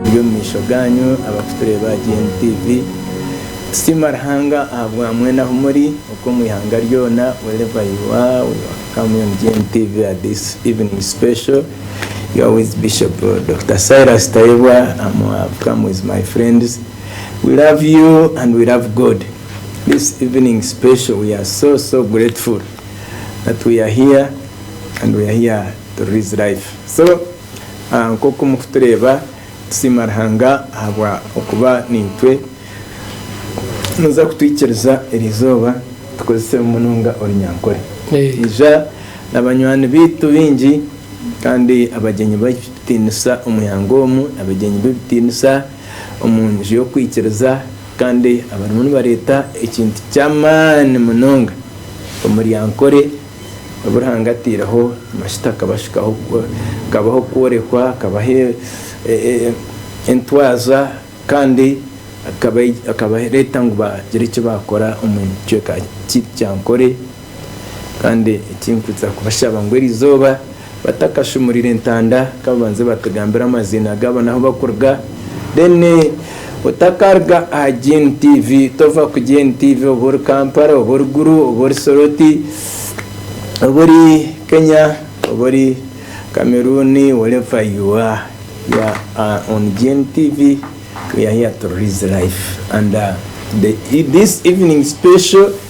Biri omu maisho gaanyu abarikutureeba aha GN TV. Tusiima Ruhanga ahabwa mwena ahu muri okwo omu ihanga ryona, wherever you are, we welcome you on GN TV at this evening special. You are with Bishop Doctor Silas Tayebwa, I'm welcome with my friends. We love you and we love God. This evening special we are so so grateful that we are here and we are here to release life so nkoku muri kutureeba tusiima Ruhanga ahabwa okuba naitwe noza kutwikiriza eri izooba tukozesemu munonga orunyankore ija na banywani baitu baingi kandi abagyenyi b'ebitiinisa omu ihanga omu abagyenyi b'ebitiinisa. omu nju y'okwikiriza kandi abarimu nibareeta ekintu ky'amaani munonga omuryankore obu Ruhanga ataireho amajuta akabashukaho hakabaho okworekwa akabaho entwaza kandi akabareeta ngu bagire eki baakora omu kicweka ky'ebyankore. Kandi eki nkwitsa kubashaba ngu eri izooba batakashumurira entanda ka babanze batugambire amaziina gaabo n'ahu bakuruga. Then otakaruga aha Gen TV, tova ku Gen TV oba ori Kampala, oba ori Gulu, oba ori Soroti, oba ori Kenya, oba ori Cameroon, wherever you are, you are on Gen TV, we are here to release life and this evening special.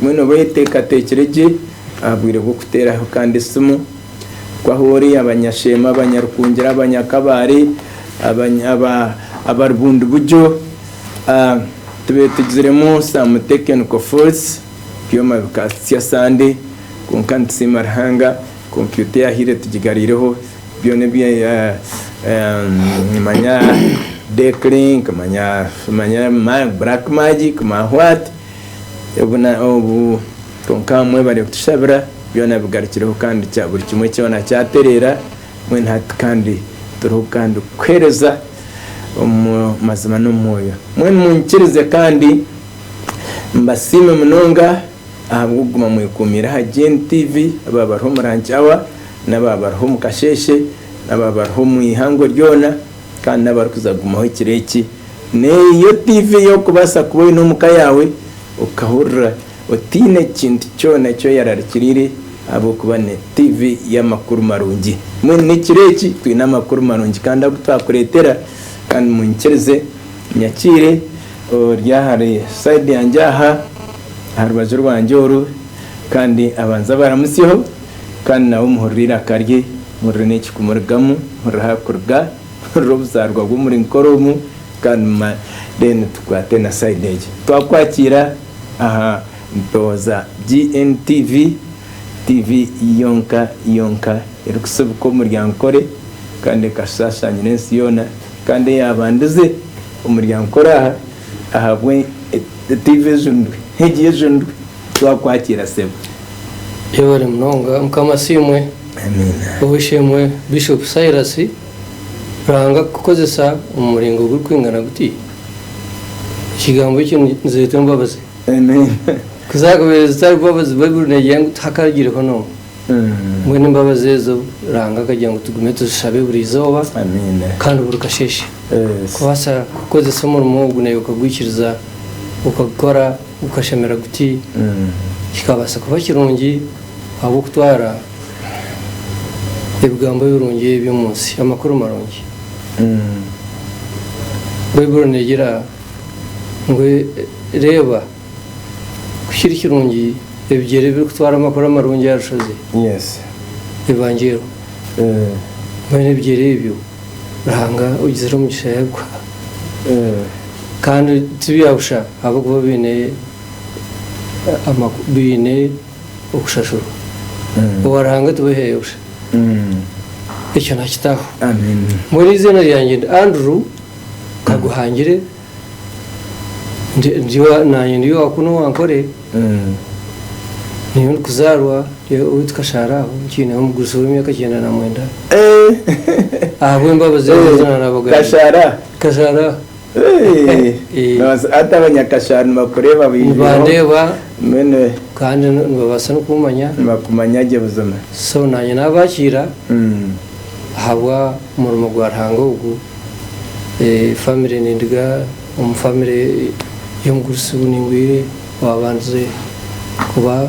Mbwenu oba oyeteekateekire gye aha bwire bw'okuteeraho kandi esimu ku ahu ori, abanyasheema, abanyarukungira, abanyakabaare, abari bundibugyo, tubeetugiziremu some technical faults, ebyoma bikatsya sande kwonka nitusiima Ruhanga kompyuta eyahaire tugigareireho byona ebi nimanya Declink, nimanya black magic, nimanya what. Obu kwonka mwebare kutushabira byona bigarukireho kandi buri kimwe kyona kyatereera mbwenu hati kandi turiho kandi kukuheereza omu mazima n'omu mwoyo. Mbwenu munyikirize kandi mbasiime munonga ahabw'okuguma mwekuumiire aha GNTV, abaaba bariho omu lunch hour, n'abaaba bariho omu kasheeshe, n'abaaba bariho omu ihangwe ryona. Kandi n'abarikuza kugumaho ekiro eki, n'eyo tiivi ei orikubaasa kuba oine omu ka yaawe, okahurira otaine kintu kyona eki oyararikiriire ahabw'okuba ni tiivi y'amakuru marungi. Mbwenu n'ekiro eki twine amakuru marungi kandi agu twakureetera. Kandi munyikirize nyakiire ori ahari sayidi yangye aha, aha rubaju rwangye oru, kandi abanze abaramutsyeho. Kandi nawe muhurire eiraka rye, muhurire n'eki kumurugamu, muhurire aha kuruga, muhurire obuzaarwa bw'omuri nkora omu, kandi muma then tukwate na side egyo. Twakwakiira aha mpeho za GNTV, TV yonka yonka erikusibuka omuri Ankore kandi ekashaashaanyira ensi yoona, kandi eyaabandize omuri Ankore aha, ahabwe TV ejunirwe, egi ejunirwe. Twakwakira sebo. Yebare munonga mukama asiimwe. Amiina. Ow'eishe-emwe Bishop Cyrus, Ruhanga kukukozesa omu muringo gurikwingana guti? Ekigambo ekyo nizeeta embabazi. Amiina. Ku zaakubaire zitari mbabazi, Baibuli neegira ngu tihakaagireho n'omwe. Mbwenu embabazi ezo Ruhanga akagira ngu tugume tuzishabe buri izooba Amiina. kandi buri kasheeshe. Yes. Kubaasa kukukozesa omurimo ogu naaiwe okagwikiriza, okagukora. Gukashamira guti? Kikabaasa kuba kirungi ahabw'okutwara ebigambo ebirungi eby'omu nsi, amakuru marungi. Baibuli neegira ngu, Reeba, ku kiri kirungi ebigyere ebirikutwara amakuru amarungi aha rushozi, Evangeero, mbwenu ebigyere ebyo. Ruhanga ogizire omugisha yaguha kandi tibyabusha ahabw'okuba baine okushashurwa. Owa Ruhanga tiwehaya busha. Ekyo nakitaho. Mbwenu eiziina ryangye ndi Andrew, nkaguhangire. Naanye ndi owa kunu owa Nkore, niyo ndikuzaarwa owaitu Kashaara aho nkiineho omugurusi w'emyaka ikyenda na mwenda ahabw'embabazi ezi ezi naaraabaga Kashaara Kashaara noobaasa hati abanyakashaara nibakureeba nibandeeba kandi nibabaasa n'okukumanya nibakumanya gye buzima so naanye naabakiira ahabwa murimo gwa Ruhanga ogu, family nindiga omu family y'omugurusi buningwire owabandize kuba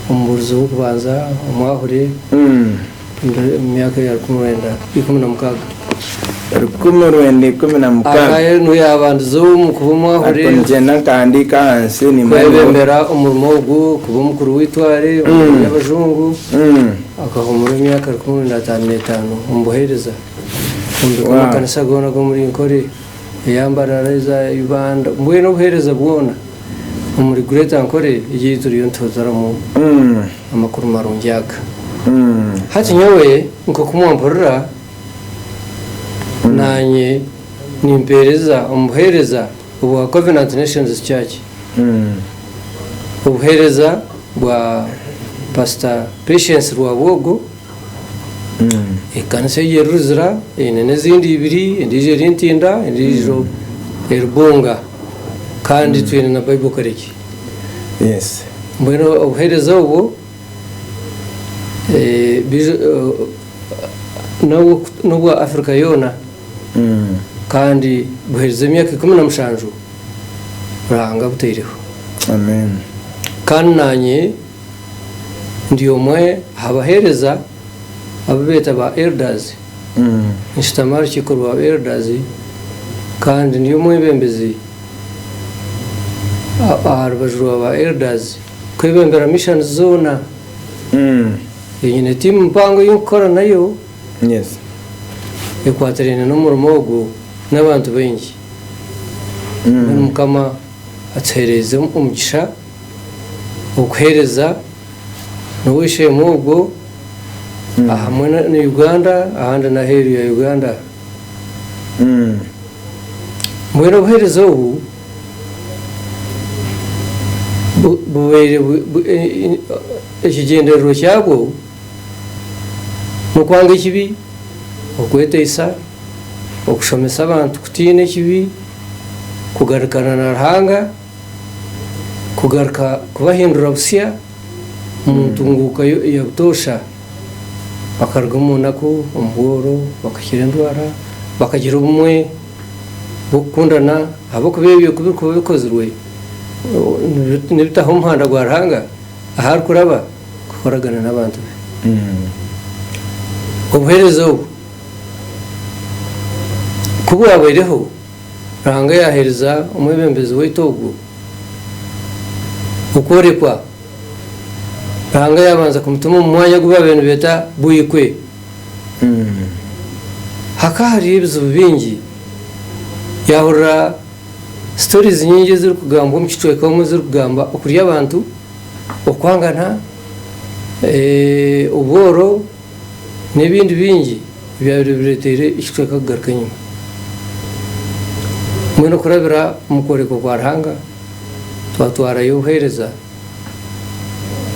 omubuurizi w'okubanza omwahure omu myaka ya rukumi rwenda ikumi na mukaaga. Rukumi rwenda ikumi na mukaaga. Aye nuwe yabandize omu kuba omwahure kwebembera omurimo ogu, kuba omukuru w'itware, omukuru y'abajungu. Akahumura emyaka rukumi na ataano na etaano omu buheereza omu bika makanisa goona g'omuri Nkore, Eyambarara, eza Ibanda, mbwenu obuheereza bwoona omuri Greater Nkore egyaitu turiyo nituhuziramu amakuru marungi aga. Hati nyowe nk'oku mwampurira, naanye nimpeereza omu buheereza obwa Covenant Nations Church, obuheereza bwa Pastor Patience Rwabwogo, ekanisa egyo eri Luzira, eine n'ezindi ibiri, endiijo eri Ntinda, endiijo eri Bunga kandi twine na Bible College. Mbwenu obuheereza obwo n'obwa Africa yoona. Kandi guherize emyaka ikumi na mushanju Ruhanga aguteireho. Kandi naanye ndi omwe aha baheereza abu beeta ba Elders, nshutami aha rukiiko rwa ba Elders kandi ndi omwebembezi aha rubaju rwa ba Elders kwebembera missions zoona. Nyine tiimu mpango ei ndikukora nayo. Yes. Ekwatiraine n'omurimo ogu n'abantu baingi. Mbwenu Mukama atuhereize omugisha okuhereza n'ow'eishe-emwe ogwo ahamwe na Uganda ahandi n'aheeru ya Uganda. Mbwenu obuhereza obu bubaire buri ekigyendererwa kyabwo. n'okwanga ekibi, okweteisa, okushomesa abantu kutiina ekibi, kugarukana na Ruhanga, kugaruka kubahindura busya omu ntunguuka ya butoosha, bakaruga omu naku, omu bworo, bakakira endwara, bakagira obumwe bw'okukundana ahabw'okuba ebyo ku birikuba bikozirwe nibitaho omuhanda gwa Ruhanga ahu arikuraba. kukoragana n'abantu be. Obuheereza obu ku bwabaireho, Ruhanga yaaheereza omwebembezi waitu ogwo okworekwa. Ruhanga yaabanza kumutuma omu mwanya ogu baabaire nibeeta Buikwe. Hakaba hariyo ebizibu bingi. Yaahurira sitoriizi nyingi ezirikugambwa omu kicweka omu ezirikugamba okurya abantu. okwangana, obworo n'ebindi bingi ebyabaire bireeteire ekicweka kugaruka enyima. Mbwenu kurabira omu kworeka kwa Ruhanga, twatwarayo obuheereza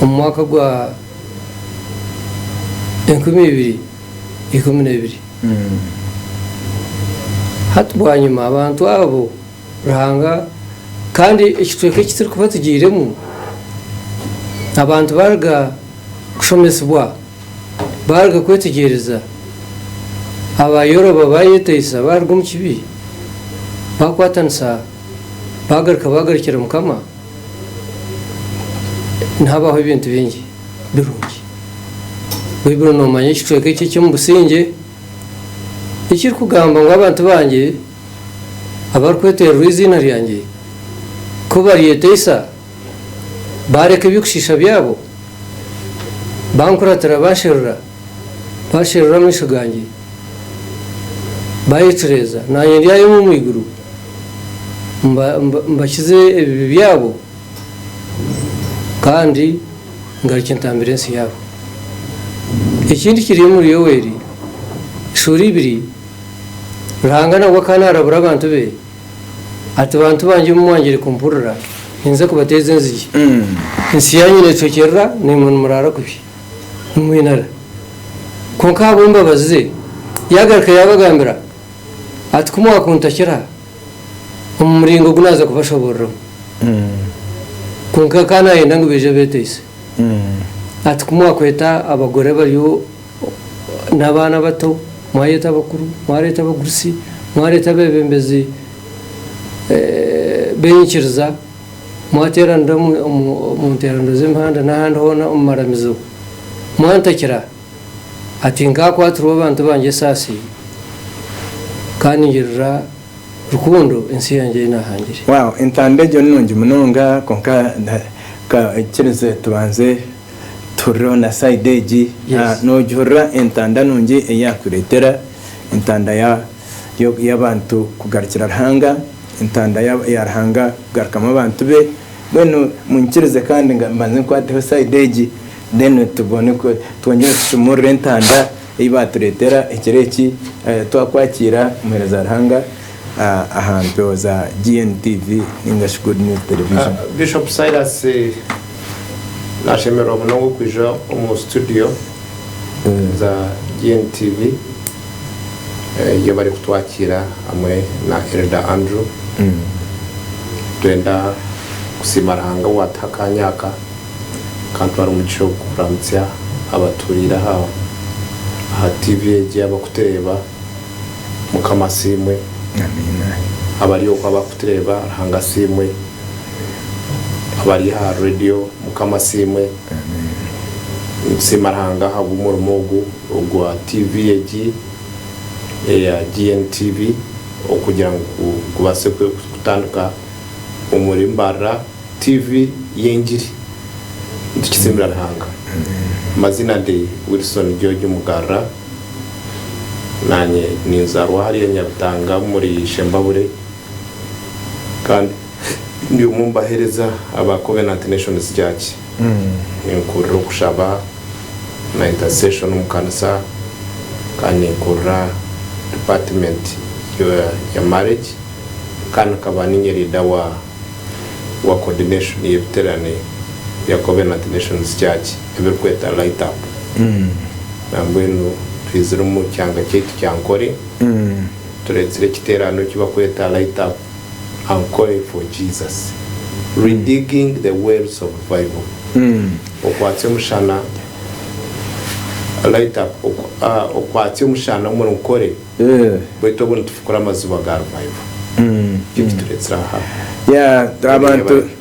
omu mwaka gwa enkumi ibiri ikumi na ibiri. Hati bwanyima abantu abo. Ruhanga, kandi ekicweka eki turikuba tugiiremu, abantu baaruga kushomesibwa, baaruga kwetegyereza, abaayoroba, baayeteisa, baaruga omu kibi, baakwatanisa, baagaruka, baagarukira Mukama, nihabaho ebintu bingi birungi. Baibuli noomanya ekicweka eki eky'omu busingye ekirikugamba ngu, Abantu bangye. abarikwetererwa eiziina ryangye, ku baryeteisa, baareka eby'okushiisha byabo, bankuratira baasherura, baasherura amaisho gangye, baayecureeza, naanye ndyayoma omu iguru mbakize ebibi byabo, kandi ngarukye ntambire ensi yaabo. Eki nikiri omuri Yoweeri, esuura ibiri. Ruhanga nabwo akaba naarabura abantu be ati, Bantu bangye obu mwangire kumpurira, ninza kubateeza enzigi, ensi yaanyu neetokyerera, naimwe nimuraara kubi, nimwinara. Kwonka ahabw'embabazi ze, yaagaruka yaabagambira ati, Ku mwakuntakira omu muringo ogu naaza kubashobooreramu. Kwonka akaba naayenda ngu baije beeteise ati, Ku mwakweta abagore abariyo. n'abaana abato, mwareeta abakuru, mwareeta abagurusi, mwareeta abeebembezi b'enyikiriza, mwateeranira omu nteeraniro z'emihanda n'ahandi hoona omu maramizo, mwantakira, ati, Nkakwatirwa abantu bangye esaasi, kandi ningirira rukundo ensi yangye ei naahangire. Wow, entanda egyo ni nungi munonga, kwonka kikirize tubanze. Tihurira na side egi nogihurira entanda nungi eyakuretera entanda yabantu kugarukira Ruhanga entanda ya Ruhanga kugarukamu abantu be mbwenu munyikirize kandi mbanze nkwateho side egi then tubone twongere tushumurire entanda eyibaturetera ekiro eki twakwakiira omuhereza Ruhanga. aha mpewo za GNTV ninga shi Good News Television. Bishop Silas nashemererwa munonga okwija omu studio za GNTV yabari kutwakiira hamwe na Elder Andrew. Nitwenda kusiima Ruhanga owatuha akanya aka akantwara omugisha ogu kuramutsya abaturiire aha TV egi abakutureeba. Mukama asiimwe. Abari oku abarikutureeba Ruhanga asiimwe. Abari aha radio Mukama asiimwe. Nitusiima Ruhanga ahabw'omurimo ogu ogwa TV egi eya GNTV okugira ngu gubaase kutandika omuri mbarira TV y'engiri. Nitukitsiimira Ruhanga. Amazina ndi Wilson George Mugarura. Naanye ninzaarwa ahari Nyabitanga omuri Shembabure kandi ndi omwe omu baheereza aba Covenant Nations Church. Ninkuurira okushaba na intercession omu kanisa kandi ninkuurira department ya marriage kandi nkaba niinye leader wa coordination y'ebiterane bya Covenant Nations Church. ebirikweta Light Up nambwenu twizire omu kyanga kyaitu kya Ankole tureetsire ekiteerano eki barikweta Light Up Ankole for Jesus Redigging the Wells of Revival Okwatse Omushana Light Up Okwatse Omushana omuri Nkole baitu obu nitufukura amaziba ga Revival nikyo eki tureetsire aha Yee abantu.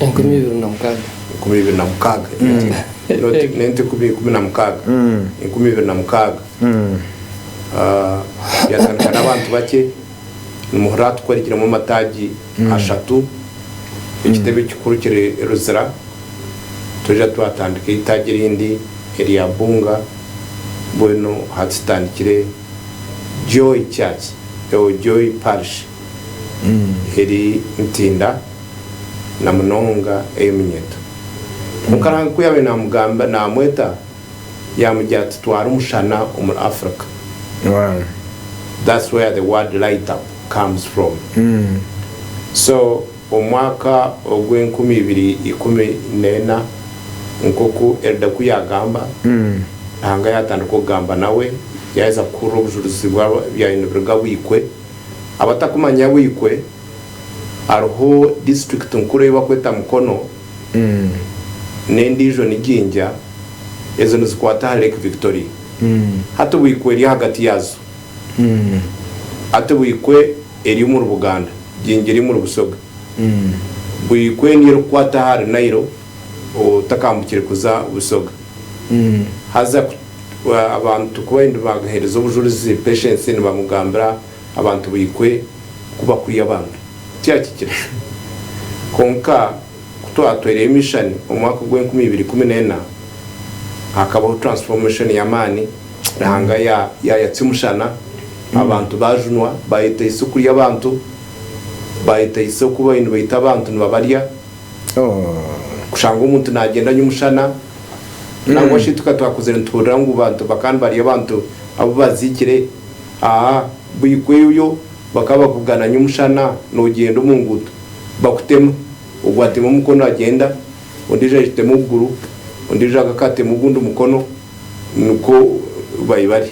Enkumi ibiri na mukaaga. Enkumi ibiri na mukaaga. Noti, noti ikumi, ikumi na mukaaga. Enkumi ibiri na mukaaga. Ah, byatandika n'abantu bakye. Nimuhurira aha tukworikiremu amataagi ashatu, ekitebe ekikuru kiri Luzira. Twija twatandika eitaagi erindi erya Bunga. Mbwenu hati tutandikire Joy Church, oh, Joy Parish eri Ntinda. na munonga ey'eminyeto. Kwonka Ruhanga ku yaabaire naamugamba, naamweta, yaamugira ati, Twara omushana omuri Africa. Wow. That's where the word light up comes from. So omu mwaka ogw'enkumi ibiri ikumi n'ena, nk'oku Elder ku yaagamba, Ruhanga yaatandika okugamba nawe, yaaheza kuhurira obujurizi bw'abaine buriga bw'eikwe, abatakumanya bw'eikwe. hariho disiturikiti nkuru ei barikweta Mukono n'endiijo ni Jinja, ezo nizikwata aha Lake Victoria. Hati Buikwe eri ahagati yaazo. Hati Buikwe eri omuri Buganda, Jinja eri omuri Busoga. Buikwe niyo erikukwata ahari Nile otakambukire kuza Busoga. Haza abantu ku bariyo nibagaheereza obujurizi, Patience nibamugambira Abantu baikwe ku bakurya abantu tikyakikire. Kwonka ku twatwaireyo emishani omu mwaka ogwa enkumi ibiri ikumi na ena, hakabaho transformation y'amaani. Ruhanga yayatsya omushana, abantu baajunwa, baayetaisa okurya abantu, baayetaisa okuba nibaita abantu nibabarya. Kushanga omuntu naagyenda nyomushana, nangwa shi tukaba twakuzire nituhurira ngu abantu bakaba nibarya abantu abu baziikire. Aa buikwe ebyo bakaba bakugana nyomushana nogyenda omunguuto bakutema ogwo atema omukono agyenda ondijo agitema okuguru ondijo agakatema ogundi mukono nikwo bai bari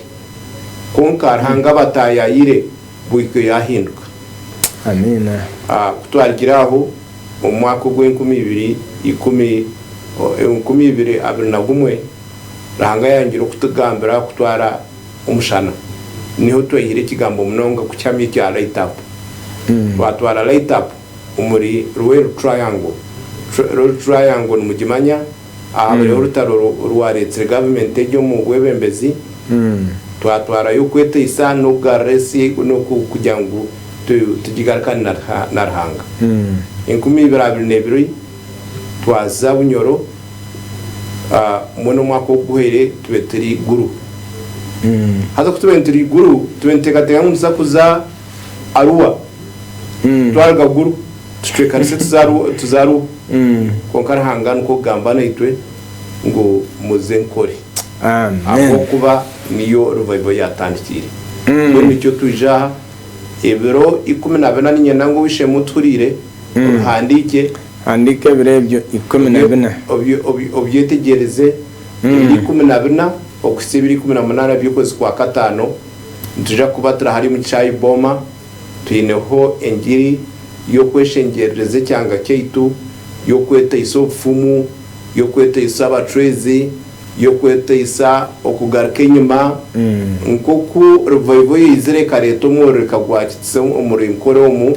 kwonka Ruhanga abatayayire buikwe yahinduka Amiina. Kutwarigire aho omumwaka ogwe enkumi ibiri ikumi enkumi ibiri abiri na gumwe Ruhanga yayongire okutugambira kutwara omushana niho twehire ekigambo munonga kukyamya ekya light up twatwara light up omuri Ruel triangle Ruel triangle nimugimanya ahabireho orutaro orwaretsire government egyo omu bwebembezi twatwarayo okweteisa nokugarura ensi nokugira ngu tugigarukane na Ruhanga enkumi ibiri abiri nebiri twaza Bunyoro mbwenu omwaka oguhwere tube turi iguru. Haza ku tube nituri iguru, tube nituteekateeka ngu nituza kuza Arua, twaruga Gulu tucwekanise tuze Arua. Kwonka Ruhanga nikwo kugamba naitwe ngu muze nkore. Ahabw'okuba niyo Revival yaatandikiire. Mbwenu nikyo twije aha, ebiro ikumi na bina niinyenda ngu obu Ishemehu Tuhureire obihandiikye. Handiika ebiro ebyo ikumi na bina. Obyetegyereze, ebiro ikumi na bina okuhitsya ebiro ikumi na munaana by'okwezi kwa kataano, nitwija kuba turi hariya omu kishaayi Boma, twineho engiri y'okweshengyerereza ekyanga kyaitu, y'okweteisa obufumu, y'okweteisa abacwezi, y'okweteisa okugaruka enyima, nk'oku rivayivo yaizire ekareeta omwororeka gwa kitsi omuri nkora omu.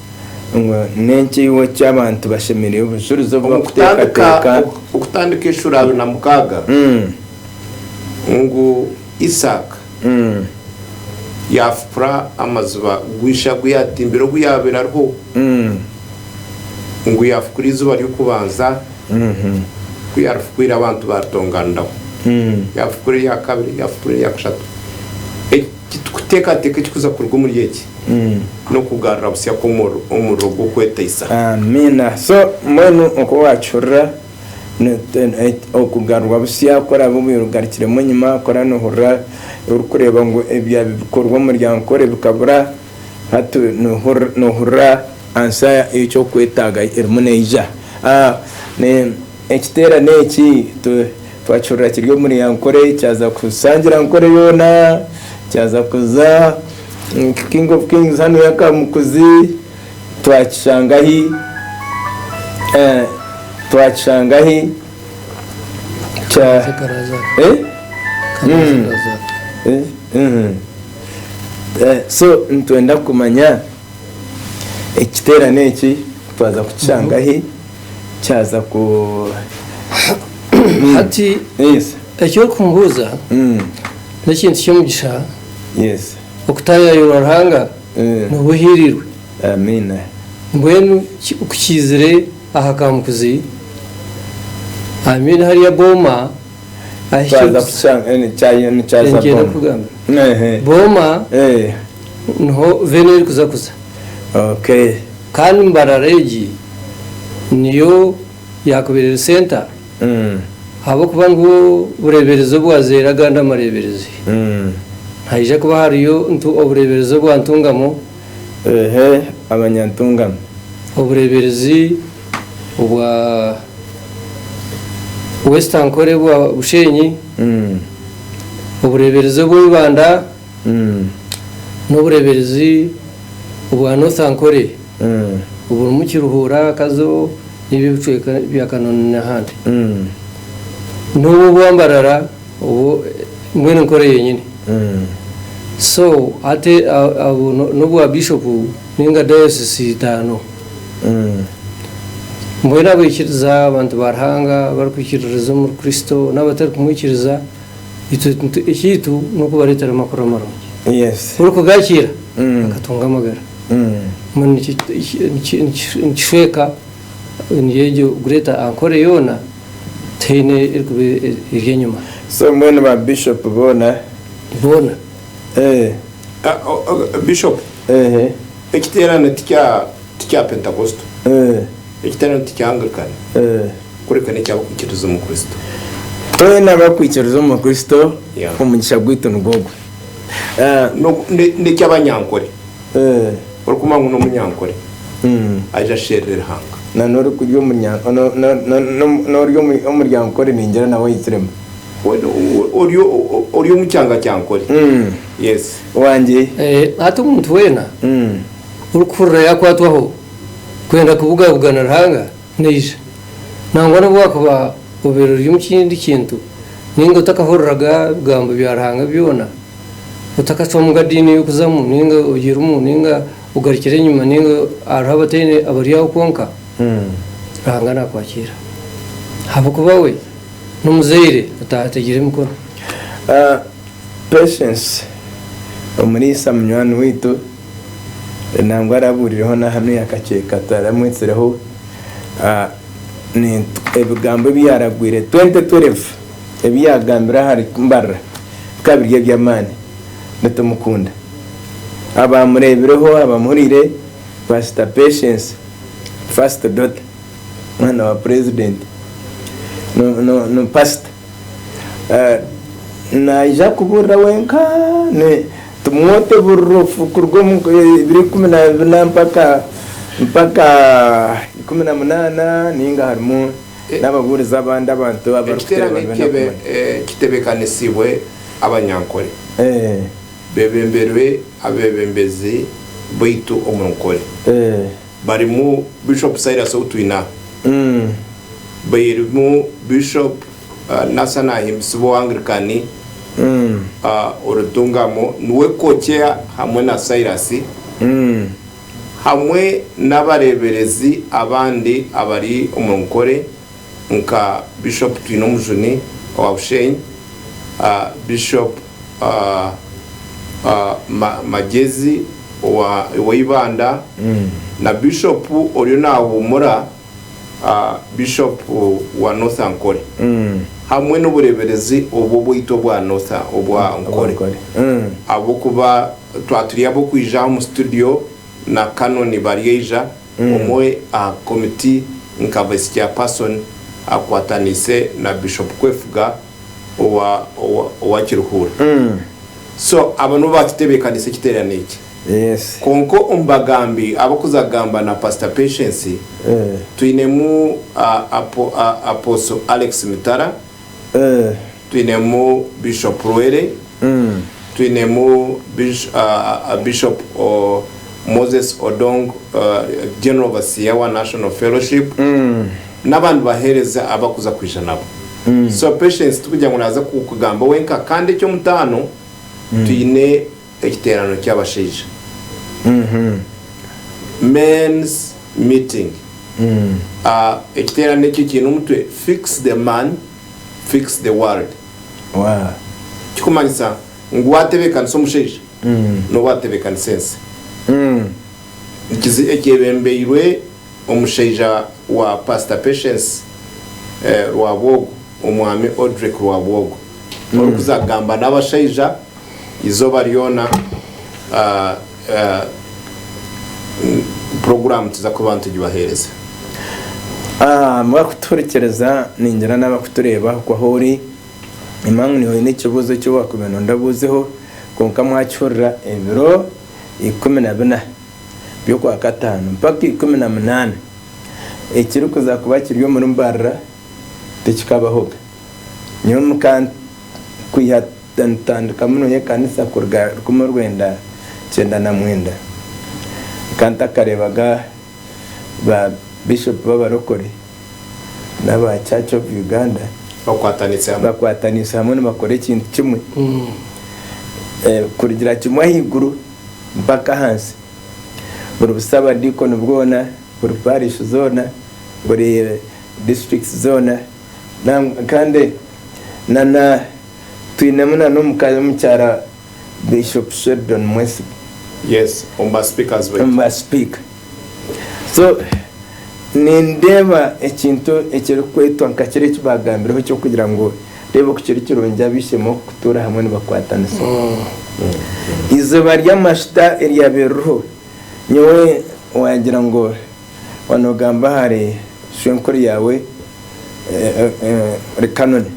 ngu n'ekiiho ky'abantu bashemereire obujurizi obu bakuteekateeka. Okutandika eshura abiri na mukaaga ngu Isaaka yaafukura amaziba gw'ishe agu yaatimbire obu yaabaire ariho, ngu yaafukura eiziba ry'okubanza ku yaarifukwire abantu baatonganiraho, yaafukura erya kabiri, yaafukura erya kashatu. Titukuteekateeka ekirikuza kuruga omuri egi n'okugarura butsya kw'omuriro gw'okwetaisa. Amiina. So, mbwenu oku waakihurira, okugarurwa butsya ku oraabe obaire ogarukiremu enyima, ku oraabe noohurira orikureeba ngu ebyaabi bikorwa omu muryango kore bikabura, hati noohurira ansa y'eki orikwetaaga erimu neija. Ekiteerane eki twakihurira kiri omuri Ankole kyaza kushangira Ankole yoona kyaza kuza King of Kings hanu ya Kamukuzi twakishanga ahi twakishanga ahi so nitwenda kumanya ekiteerane eki twaza kukishanga ahi. kyaza ku Hati yes eki orikumbuuza mm n'ekintu ky'omugisha yes okutaayayirwa Ruhanga eh nooba ohiirirwe. amiina Mbwenu ki ku kiizire aha kaamukuzi, amiina hariya booma. Twaza kukishanga eni kyayo nikyaza boma ehe boma niho veni erikuza kuza kandi mbarara egi niyo yakubire eri center ahabwokuba ngu obureberezi obwazeire agandi amareberezi nihaija kuba hariyo ntu obureberezi obwa ntungamo. Ehe abanyantungano. Obureeberezi obwa West Ankole bwa Bushenyi, obureeberezi obwa Ibanda n'obureeberezi obwa North Ankole oburimu Kiruhura, Kazo n'ebyo ebicweka bya Kanoni n'ahandi, n'obu obwa Mbarara. Obwo mbwenu nkora eyo nyine so hati obwo nobwa bishop ninga diocese itaano mbwenu abaikiriza abantu ba Ruhanga abarikwikiririza omuri Kristo nabatari kumwikiriza itwe ekyaitu nokubaretera amakuru amarungi buri kugakiira bakatunga amagara mbwenu nikyo nikishweeka niyo egyo greater ankole yoona. Tihaine erikuba eri enyima. So mbwenu ba bishop boona. Boona? Eeh. Bishop, ekiteerane tikya tikya Pentekosto. Ekiteerane tikya Anglican. Kureka n'ekya abakwikiriza omu Kristo. Twena abakwikiriza omu Kristo omugisha gwaitu nigwo gwe. Eh, n'oku- ne- n'eky'abanyankore Eh, orikumanya ngu n'omunyankore mm. aija asherere ruhanga na n'ori kurya omunya- no- no- no- no- n'ori omu- omuryankore ningira nawe aitsiremu We- we- ori o- o- ori omu kyanga kya nkore Mm. yes wangye Eh, hati omuntu weena Mm. orikuhurira yakwatwaho kwenda kubugabugana Ruhanga, Naija, nangwa n'obu waakuba obaire ori omu kindi kintu ninga otakahuriraga bigambo bya Ruhanga byona, otakacwamuga diini y'okuzamu ninga ogirimu ninga ogarukire enyima ninga hariho abataine abari aho kwonka, Ruhanga naakwakiira ahabw'okuba we n'omuzaire otaategire emikono. Patience, omuriisa munywani waitu. nangwa arabuurireho n'ahanuya yakakyeeka taramwetsireho ebigambo ebi yaaragwire 2012 ebi yaagambire ahari Mbarira bikaba biri eby'amaani nitumukunda. Abaamureebireho abamuhuriire Pasita Patience First Daughter mwana wa Purezidenti ni Pasita naija kubuurira wenka. Timoti oburira obufu kuruga omu ibiri ikumi na bina mpaka mpaka ikumi na munaana ninga harimu n'ababuurizi abandi abantu abarikuteerana Ekiteerane ebi ky'ebe bakumanya. kitebeekanisibwe abanyankole Eeh. beebemberwe abeebembezi baitu omu nkole Eeh. barimu Bishop Silas ou twine aha, barimu Bishop. Nasa nahimbisibwa owa Anglican Orutungamo niwe co-chair hamwe na Silas hamwe n'abareeberezi abandi abari omu nkore nka Bishop Twinomujuni owa Bushenyi, Bishop Magyezi owa Ibanda na Bishop oriyo nahuumura. Bishop wa North Ankole hamwe n'obureberezi obu obwaitu obwa North obwa Ankole ahabw'okuba twaba turi ab'okwija aha omu studio na Canon bari aija omwe aha committee nka vice chairperson akwataniise na Bishop Kwefuga owa Kiruhura. So abo nibo baatutebeekanisa ekiteerane eki. Kwonka omu bagambi abarikuza kugamba na Pasita Patience, twinemu Apostle Alex Mitara, twinemu Bishop Lwere, twinemu Bishop Moses Odong, General Overseer wa National Fellowship, n'abandi baheereza abu akuza kwija nabo. So Patience tikugira ngu naaza kugamba wenka. Kandi eky'omutaano, twine ekiteerano ky'abashaija, men's meeting. Ekiteerano ekyo kiine omutwe Fix the Man, Fix the World. Kikumanyisa ngu waatebeekanisa omushaija, nooba waatebeekanisa ensi. Ekyebembeirwe omushaija wa Pastor Patience Rwabwogo, Omwami Odrick Rwabwogo, orikuza kugamba n'abashaija eizooba ryona. Puroguraamu nituza kuba nitugibaheereza. Mwakutuhurikiiriza, ningira n'abakutureeba okwo ahu ori, nimanya ngu niiwe oine ekibuuzo eki waakubaire nooyenda obuuzeho, kwonka mwakihurira ebiro ikumi na bina. by'Okwakataano mpaka ikumi na munaana, ekirikuza kuba kiri omuri Mbarara tikikabahoga. Nyowe muka kwiha ntandika muno y'ekanisa kuruga rukumi orwenda kyenda na mwenda, nka ntakareebaga ba Bishop b'Abarokore n'aba Church of Uganda bakwatanise hamwe nibakora ekintu kimwe kurugira kimwe ahaiguru. mpaka ahansi, buri busabadiikoni bwona, buri parish zoona, buri districts zoona, kandi nana twinemu nana omukazi omukyara Bishop Sheldon Mwesigye omu ba speakers baitu. So nindeeba ekintu ekirikwetwa nka kiri eki baagambireho eky'okugira ngu reeba oku kiri kirungi ab'eishe-emwe okutuura hamwe nibakwatanisa. Eizooba ry'amashuta eryabaire ririho, nyowe waagira ngu waaba noogamba ahari shwenkuru yaawe Kanoni,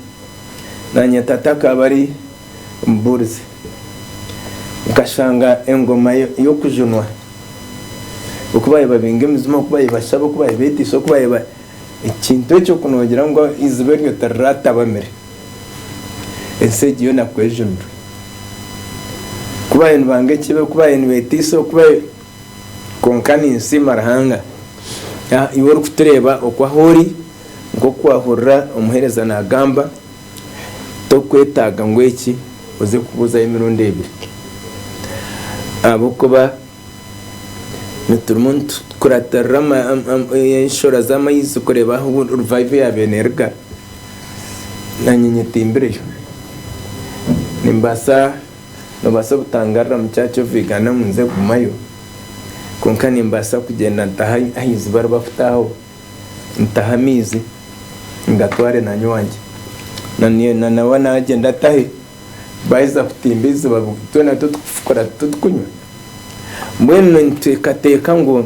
naanye tata akaba ari. Muburizi. Nkashanga engoma y'okujunwa oku baabaire babinga emijuma, oku baabaire bashaba, oku baabaire beteisa, oku baabaire ekintu ekyo ku noogira ngu eiziba eryo tiriratabamire, ensi egyo yoona ku ejunirwe. Ku baabaire nibanga ekibe, ku baabaire nibeteisa, oku baabaire, kwonka ninsiima Ruhanga ngu iwe orikutureeba oku ahu ori, nk'oku waahurira omuheereza naagamba. Torikwetaaga ngu eki oze kubuuzayo emirundi ebiri, ahabw'okuba niturimu nitukuratirira enshororo z'amaizi kureeba ahu rivayivho yaabaire neeruga, naanye nyetimbireyo. Nimbaasa, noobaasa obutangarura omu Church of Uganda ngu nze kugumayo, kwonka nimbaasa kugyenda ntahe aha iziba eri barikutaahaho. ntahe amaizi ngatware na nywangye na nawe nagyenda atahe baheza kutimba eiziba twena tutukufukura tutukunywa mbwenu nitwekateeka ngu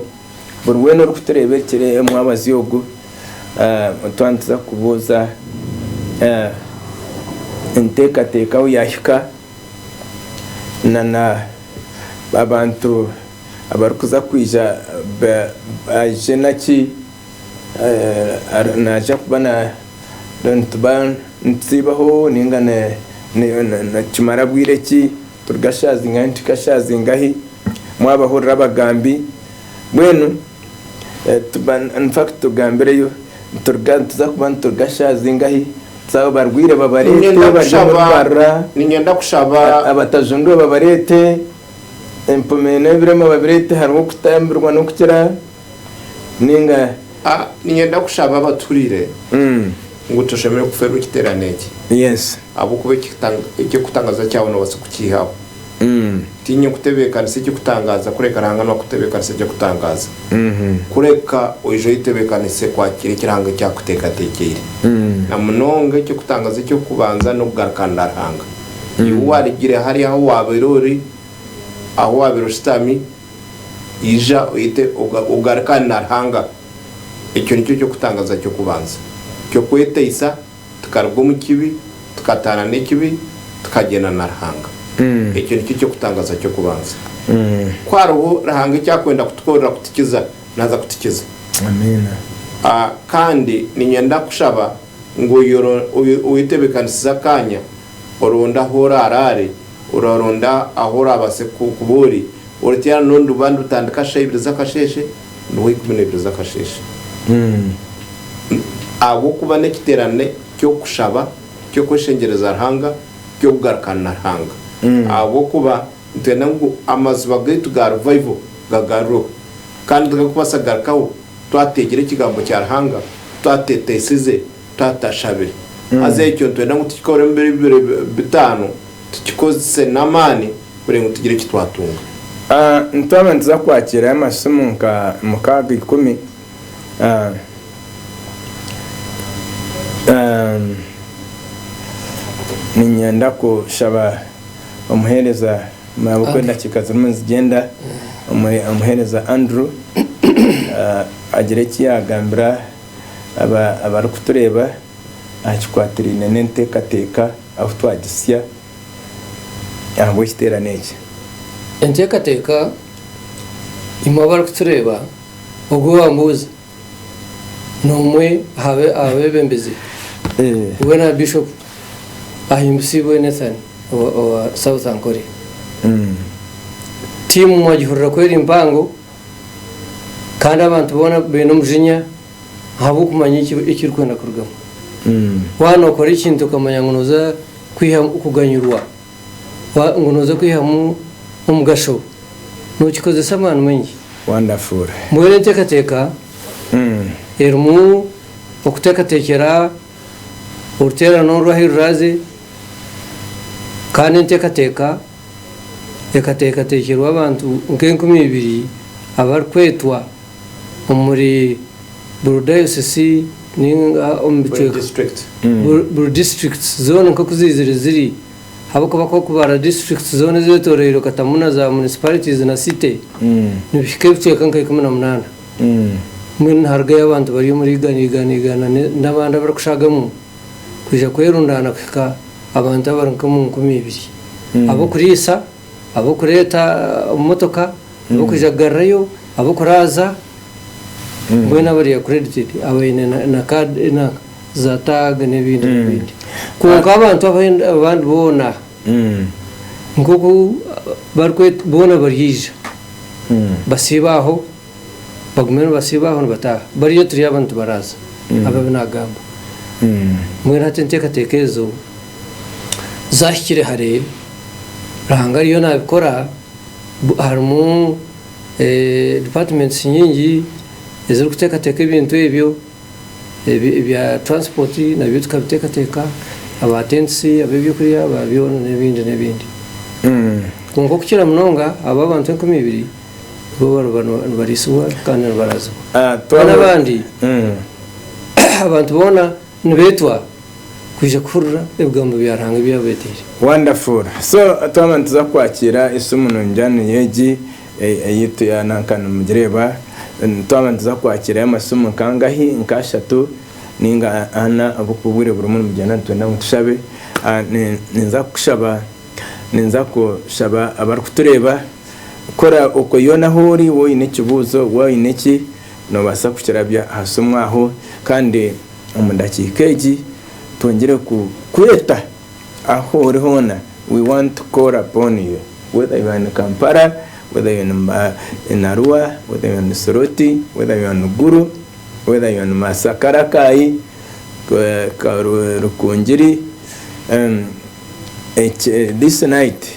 buri wena orikutureeba ekiro omwabazyo ogu twaaba nituza kubuuza enteekateeka ahu yahika na na abantu abarikuza kwija baije naki naija kuba nituba nitutsiibaho ninga nikimara bwire ki, turi gashaazinga ahi turi gashaazinga ahi, mwabahurira abagambi mbwenu infact tugambireyo nituza kuba nituri gashaazinga ahi, twaba barwaire babareete, abatajundwa babareete. Empumi n'ebirema babirete hariho okutambirwa n'okukira ninga. A, Niinyenda kushaba abatuhurire ngu toshemeriire kufeerwa ekiteerane eki. Yes. Ahabw'okuba ekitanga, eky'okutangaza kyawe noobaasa kukiihaho. Tiinya okutebeekanisa eky'okutangaaza kureka Ruhanga nu akutebeekanisa eky'okutangaaza. Kureka oije oyetebeekanise kwakira eki Ruhanga eki akuteekateekyeire. Na munonga eky'okutangaaza eky'okubanza n'okugarukana na Ruhanga. Iwe warugire hare ahu waabaire ori, ahu waabaire oshutami, ija oyete ogarukane na Ruhanga. Ekyo nikyo ky'okutangaza ky'okubanza ky'okweteisa tukaruga omu kibi, tukataana n'ekibi, tukagyenda na Ruhanga. Ekyo nikyo ky'okutangaza ky'okubanza. Ku hariho Ruhanga eki arikwenda kutukorera kutukiza, naaza kutukiza. Kandi niinyenda kushaba. ngu oyetebeekanisize akaanya oronde ahu oraaraare, oraronda ahu oraabaase kuba ori, oriteerane n'ondi rubaare nirutandika shaaha ibiri z'akasheeshe ruhwe ikumi na ibiri z'akasheeshe. Ahabw'okuba n'ekiteerane ky'okushaba, ky'okweshengyereza Ruhanga, ky'okugarukana na Ruhanga. Ahabw'okuba. Nitwenda ngu amaziba gaitu ga Revival gagarurweho. Kandi tigarikubaasa kugarukaho twateegire Ekigambo kya Ruhanga, twateeteisize, twatashabire. Haza ekyo nitwenda ngu tukikore omu biro bibiri bitaano, tukikozese n'amaani kureka ngu tugire eki twatunga. Nitwaba nituza kwakirayo amasimu nka mukaaga, ikumi. Niinyenda kushaba omuheereza nabukwa endakiika zirimu nizigyenda, omuheereza Andrew agire eki yaagambira abarikutureeba aha kikwatiraine n'enteekateeka ahu twagitsya ahabw'ekiteerane eki. Enteekateeka, imwe abarikutureeba. Obwo wambuuza, n'omwe aha beebembezi we na Bishop Ahimbisibwe Nathan owa South Ankole. Tiimu mwagihurira ku eri mpango kandi abantu boona baine omujinya ahabw'okumanya eki erikwenda kurugamu. Waaba nookora ekintu okamanya ngu nooza kwihamu kuganyurwa. ngu noza kwihamu omugasho nokikozesa amaani maingi. Wonderful. Mbwenu enteekateeka erimu okuteekateekyera oruteerane oru ahu ruraaze kandi enteekateeka ekateekateekyerwa abantu nk'enkumi ibiri abarikwetwa omuri buri dayosisi ninga omu bicweka, buri disiturikiti zoona nk'oku ziizire ziri, ahabw'okuba ku orikubara disiturikiti zoona ezeetoroirwe okatamu na za munisiparitiizi na site, nibihika ebicweka nka ikumi na munaana. Mbwenu niharugayo abantu bari omuri igana igana igana n'abandi abarikushagamu kwija kwerundaana kuhika abantu abari nk'omu nkumi ibiri ab'okuriisa. ab'okureeta omu motoka, ab'okwija kugarurayo, ab'okuraaza, mbwenu bari accredited, abaine na card, na za tag n'ebindi n'ebindi. Kwonka abantu abandi boona nk'oku barikwetwa boona baryaija basiibe aho. Bagume nibasiiba aho nibataaha. Bariya turi abantu tibaraaza. Ababi naagamba. Mbwenu hati enteekateeka ezo zaahikire hare, Ruhanga ariyo naabikora. Harimu departments nyingi ezirikuteekateeka ebintu ebyo. Ebya transport nabyo tukabiteekateeka, aba tents, ab'eby'okurya, aba byona n'ebindi n'ebindi. Kwonka okukira munonga abo abantu enkumi ibiri. Bo bariba nibariisibwa kandi nibarazibwa. Ah, Kandi twaba- abandi, Mm. abantu boona nibeetwa kwija kuhurira ebigambo bya Ruhanga ebi abeeteire. Wonderful. So twaba nituza kwakiira esimu nungi hanu y'egi ei- ei tu ya nanka nimugireeba, mm, twaba nituza kwakiirayo amasimu nkangahi? Nk'ashatu nainga ana abu ku obwire burimu nibugyenda nitwenda ngu tushabe. Ah, ni- ninza kushaba, ninza kushaba abarikutureeba. Kora okwo yoona ahu ori, waaba oine ekibuuzo, waaba oine ki, noobaasa kukirabya aha simu aho kandi omu ndakiika egi twongire kukweta ahu ori hoona, we want to call upon you whether you are in Kampala, whether you are in Arua, whether you are in Soroti, whether you are in Gulu, whether you are in Masaka, Rakai, Rukungiri, this night.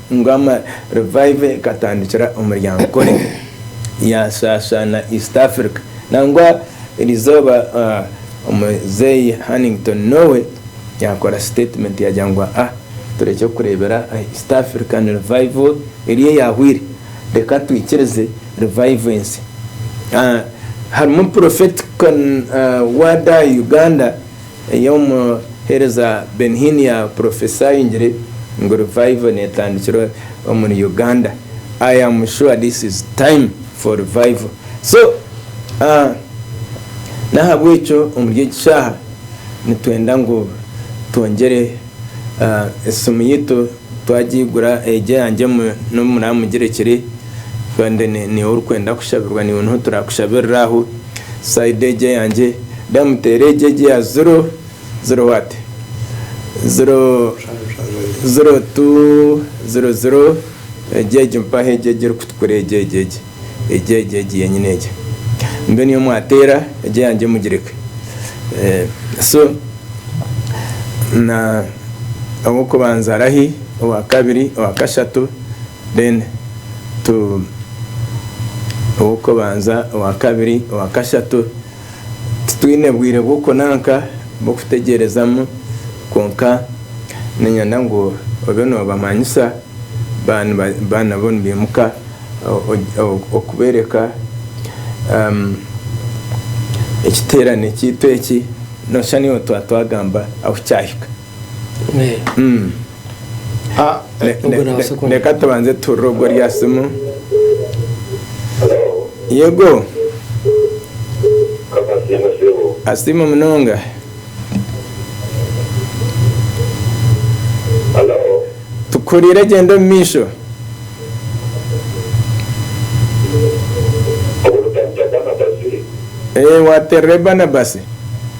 Ngoma Revival ekatandikira omuri Ankole yaasaasaana East Africa. Nangwa erizooba Muzeeyi Hannington Nowe yaakora sitetimenti yaagira ngu, Aa, turekye kureebera aha East African Revival eri eyaahwaire. Reka twikirize Revival ensi. Harimu Prophetic Word Uganda. Ei omuheereza Ben-Hinn yaapurofesaayingire ngu Revival neetandikira omuri Uganda. I am sure this is time for Revival. So, n'ahabw'ekyo omuri egi shaaha nitwenda ngu twongyere esimu yaitu. Twagiigura egyo yangye n'obu muramugire kiri kandi niiwe orikwenda kushabirwa niiwe niho turakushabirira aho side egyo eyangye then muteere egyo egyo eya ziro ziro what? ziro ziro two ziro ziro egyo egyo mpaho egyo egyo erikutukura egyo egyo egyo. egyo egyo egyo yenyini egyo mbwenu iyo mwateera egyo yangye mugireke so owokubanza arahi owakabiri owakashatu then tu owokubanza owakabiri owakashatu Titwine bwire bw'okunanka bw'okutegyerezaamu, kwonka niinyenda ngu obe noobamanyisa baanabo nibaimuka okubeereka ekiteerane kyaitu eki, nooshusha naiwe twaba twagamba ahu kyahika. Ah, ne- ne- Ubwo nawe ne- sekonda. reka tubanze turure ogwo rya simu yego asiima munonga tukuhuriire gyenda omu maisho Eh, wateerera barnabasi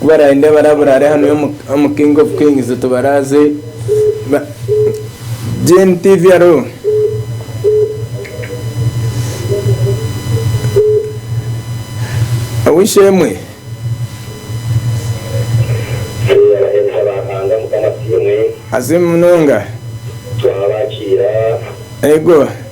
Ku baraarinda barabura ari hanu omu King of Kings tubaraaze Gen TV aro Ow'eishe-emwe. Asiimwe munonga. Yego.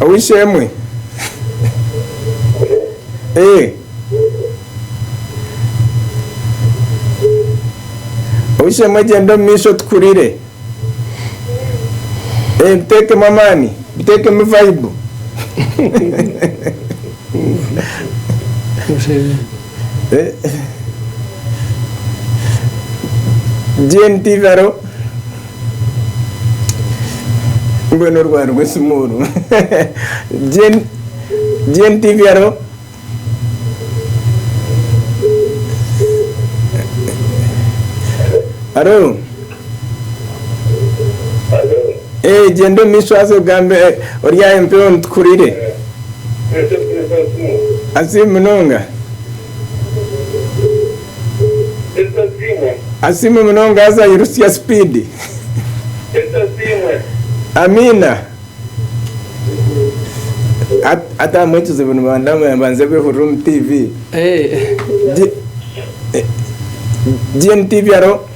Ow'eishe-emwe? Ee. Ow'eishe-emwe gyenda omu maisho tukurire. Ee, biteekemu amaani. Biteekemu vaibu. Gen Tigaro, Mbwenu orwaari rw'esimu oru. Gen Tigaro, Haro. Gyenda omu maisho haza ogambe ori aha mbeho nitukurire. Asi munonga. Asi munonga haza yirutsya sipiidi. Amiina. Hati ahamwe ekizibu nibanze behurire omu tiivi. GNTV haro.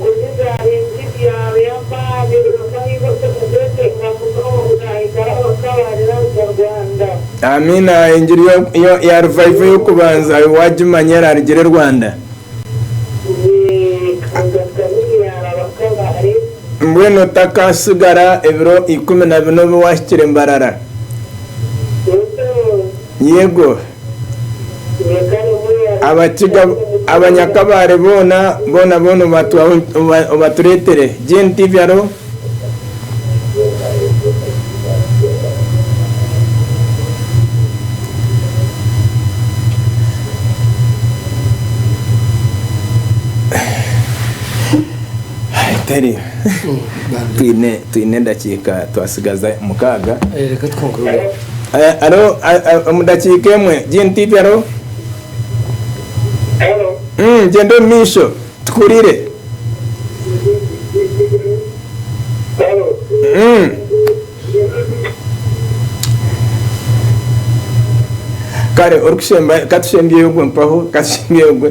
Kujuza ensi byaabayamba birimukahaisa okugweteka munonga ahikare abakabarira omu Rwanda. Amiina engiri ya revival yokubanza ayo wagimanya erarigire e Rwanda? Mbwenu otakasigara ebiro ikumi na bina obe wahikire Mbarara? Yego. Abakiga abanyakabare boona boona boona obatureetere. Jane TV haro? Teri. Twine edakiika twatsigaza mukaaga. Halo, omu dakiika emwe, Jean Tiipi, halo? Gyenda omu maisho, tikuhurire. Kare orikushemba, ka tushembyeyo ogwe mpaho, ka tushembyeyo ogwe.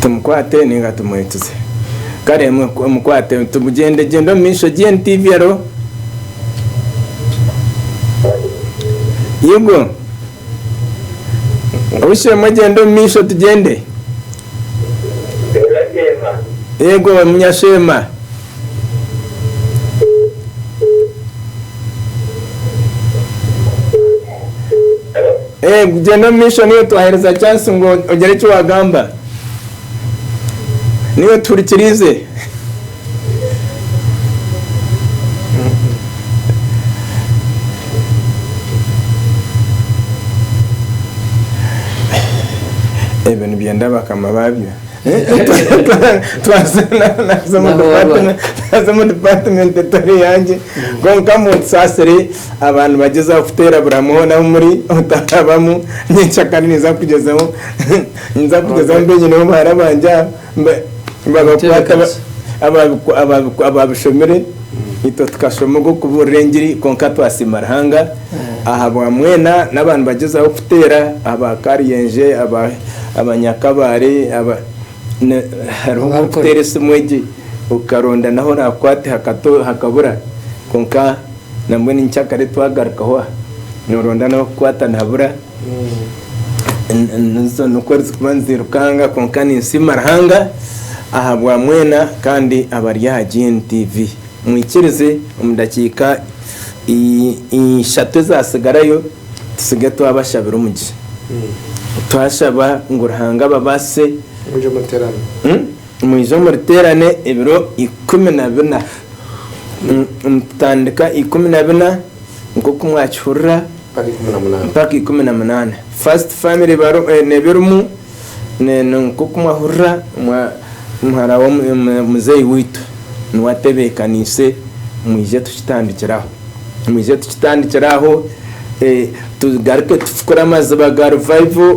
Tumukwate ninga tumwekize? Kare mukwate tumugyendegyende omu maisho GNTV alo? Yugo? Oshemwe gyenda omu maisho tugyende. Yego munyasheema. Gyenda omu maisho niyo twahereza chance ngu ogyere eki wagamba. Niyo tuhurikiriize. Ebyo nibyenda bakama baabyo. Twaza naaza omu department naaza omu department etari yangye kwonka munsaasire aba nibagyezaho kuteera buramu hoona ahu muri otarabamu nyenkya kandi ninza kugyezaho ninza kugyezaho mbe nyine obuhara bwangye aho Babakwata ababishomire, itwe tukashoma ogw'okubuurira engiri kwonka twasiima Ruhanga ahabwa mwena n'aba nibagyezaho kuteera aba Karyenje, aba Nyakabaale, hariho nk'okuteera esimu egi okaronda n'ahu oraakwate hakabura kwonka nambwenu nyikyakare twagarukaho aha noronda n'ahu okukwata nihabura. Nizo nikwo zirikuba nizirukanga kwonka ninsiima Ruhanga ahabwa mwena kandi abari aha GNTV. Mwikirize omu dakiika ishatu ezatsigarayo tutsige twabashabira omugisha. Twashaba ngu Ruhanga ababaasise mwije omu ruteerane ebiro ikumi na bina. Nitutandika ikumi na bina nk'oku mwakihurira. mpaka ikumi na munaana. First family nebirimu nkoku mwahurira muhara wa muzeyi waitu niwe atebekanise mwije tukitandikire aho mwije tukitandikire aho tugaruke tufukure amaziba ga revival.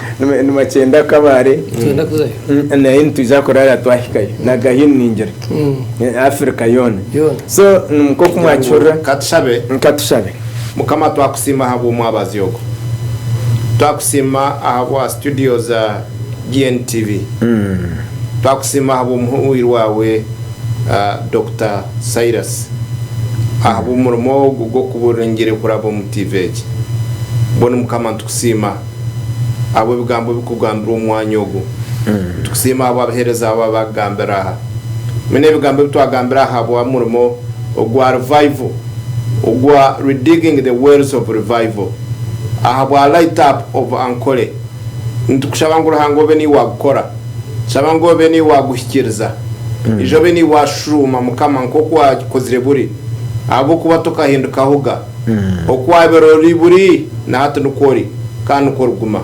Nibakyenda kabare naye nitwija kurara twahikayo nagahini ningira Africa yona so nkoku mwakihurira katushabe. Mukama twakusiima ahabw'omwabazi ogu. Twakusiima ahabwa studio za GNTV. Twakusiima ahabw'omuhwii waawe Dokita Cyrus ahabw'omurimo ogu gw'okubuura engyere kuraba omu TV egi. Mbwenu Mukama nitukusiima. ahabw'ebigambo ebirikugambirwa omu mwanya ogu. Nitukusiima ahabw'abaheereza abo abakugambira aha. Mbwenu ebigambo ebi twagambire ahabw'omurimo ogwa Revival, ogwa Redigging the Wells of Revival, ahabwa Light Up of Ankole, nitukushaba ngu Ruhanga obe niiwe waagukora. Nitushaba ngu obe niiwe waaguhikiiriza. Ija obe niiwe waashuuma, Mukama, nk'oku waakozire buri, ahabw'okuba tokahindukaho ga. Oku waabire ori, buri, na hati nikwo ori, kandi nikwo origuma,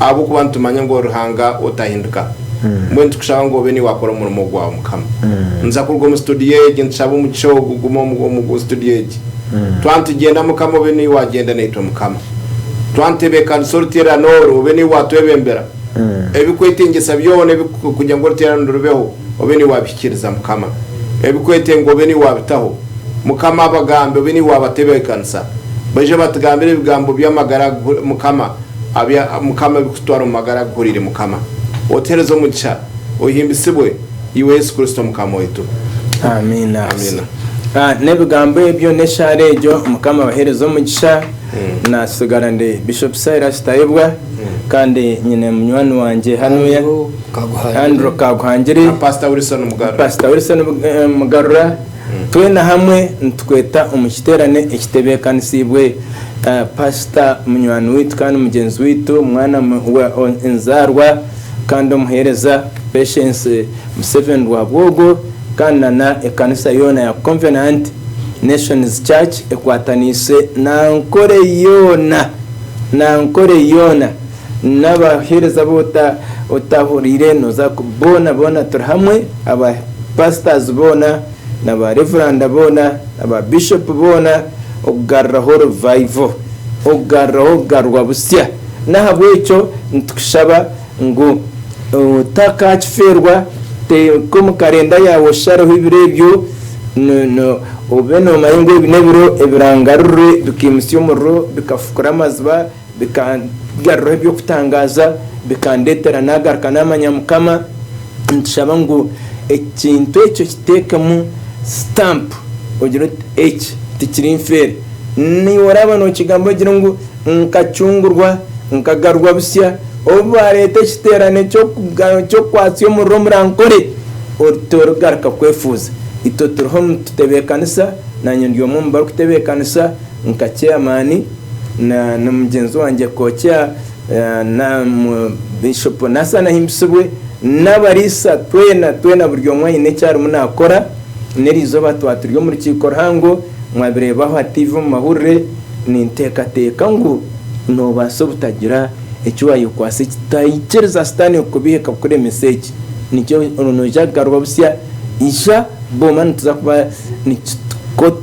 ahabw'okuba nitumanya ngu ori Ruhanga otahinduka. Mbwenu nitukushaba ngu obe niwakora omurimo gwawe, Mukama. Nituza kuruga omu situdiyo egi, nitushaba omugisha ogu gume omu situdiyo egi. Twaba nitugyenda, Mukama, obe niiwe wagyenda naitwe, Mukama. Twaba nitutebeekanisa oruteerane oru, obe niiwe waatwebembera. Ebikwetengyesa byona ebi, kugira ngu oruteerane oru rubeho, obe niwe abihikiriza Mukama ebikwetenga obe niwe abitaho Mukama abagambe obe niwe abatebekanisa baije batugambire ebigambo byamagara Mukama abya Mukama ebikututwara omu magara aguhurire Mukama otuhereze omugisha ohimbisibwe iwe Yesu Kristo Mukama waitu. Amiina nebigambo ebyo neshaara egyo mukama abahereze omugisha natsigara ndi bishop Silas Tayebwa kandi nyine munywani wangye hanuya. Andrew Kaguhangire, Paasita Wilson Mugarura, twena hamwe nitukweta omu kiteerane ekitebeekanisiibwe Paasita munywani waitu kandi mugyenzi waitu, mwana wa enzaarwa kandi omuheereza Patience Museveni Rwabwogo kandi na na ekanisa yoona ya Covenant Nations Church ekwataniise na Ankole yoona na Ankole yoona. Nabahereza abu otahuriire noza ku boona boona turi hamwe aba pastors boona na ba reveranda boona na ba bishop boona okugaruraho revival okugaruraho okugarurwa busya nahabwekyo nitukushaba ngu otakakifeerwa teeka omu karenda yaawe oshareho ebiro ebyo obe nomanya ngu ebi nebiro ebirangarurire bikaimutsya omuriro bikafukura amaziba. Bikangaruraho eby'okutangaaza, bikandeetera naagaruka naamanya Mukama. Nitushaba ngu ekintu ekyo kiteekemu stamp ogire oti eki tikiri nfeere. Naiwe oraaba nookigamba ogire ngu nkacungurwa, nkagarurwa busya. Obu baareeta ekiteerane ky'okukwatsa omuriro omuri Ankole, ori torigaruka kwefuuza. Itwe turiho nitutebeekanisa, naanye ndi omwe omu barikutebeekanisa. Nka Chairman na na mugyenzi wangye Kookya na mu Bishop Nassan Ahimbisibwe n'abariisa twena twena buri omwe aine eki arimu naakora n'erizooba twaturi omu rukiiko ruhango mwabireeba aha TV omu mahurire ninteekateeka ngu noobaasa obutagira eki waayekwaasa ekitaikiriza sitaane kukubihika kukuremesa eki nikyo nooza kugaruka busya ija booma nituza kuba nituko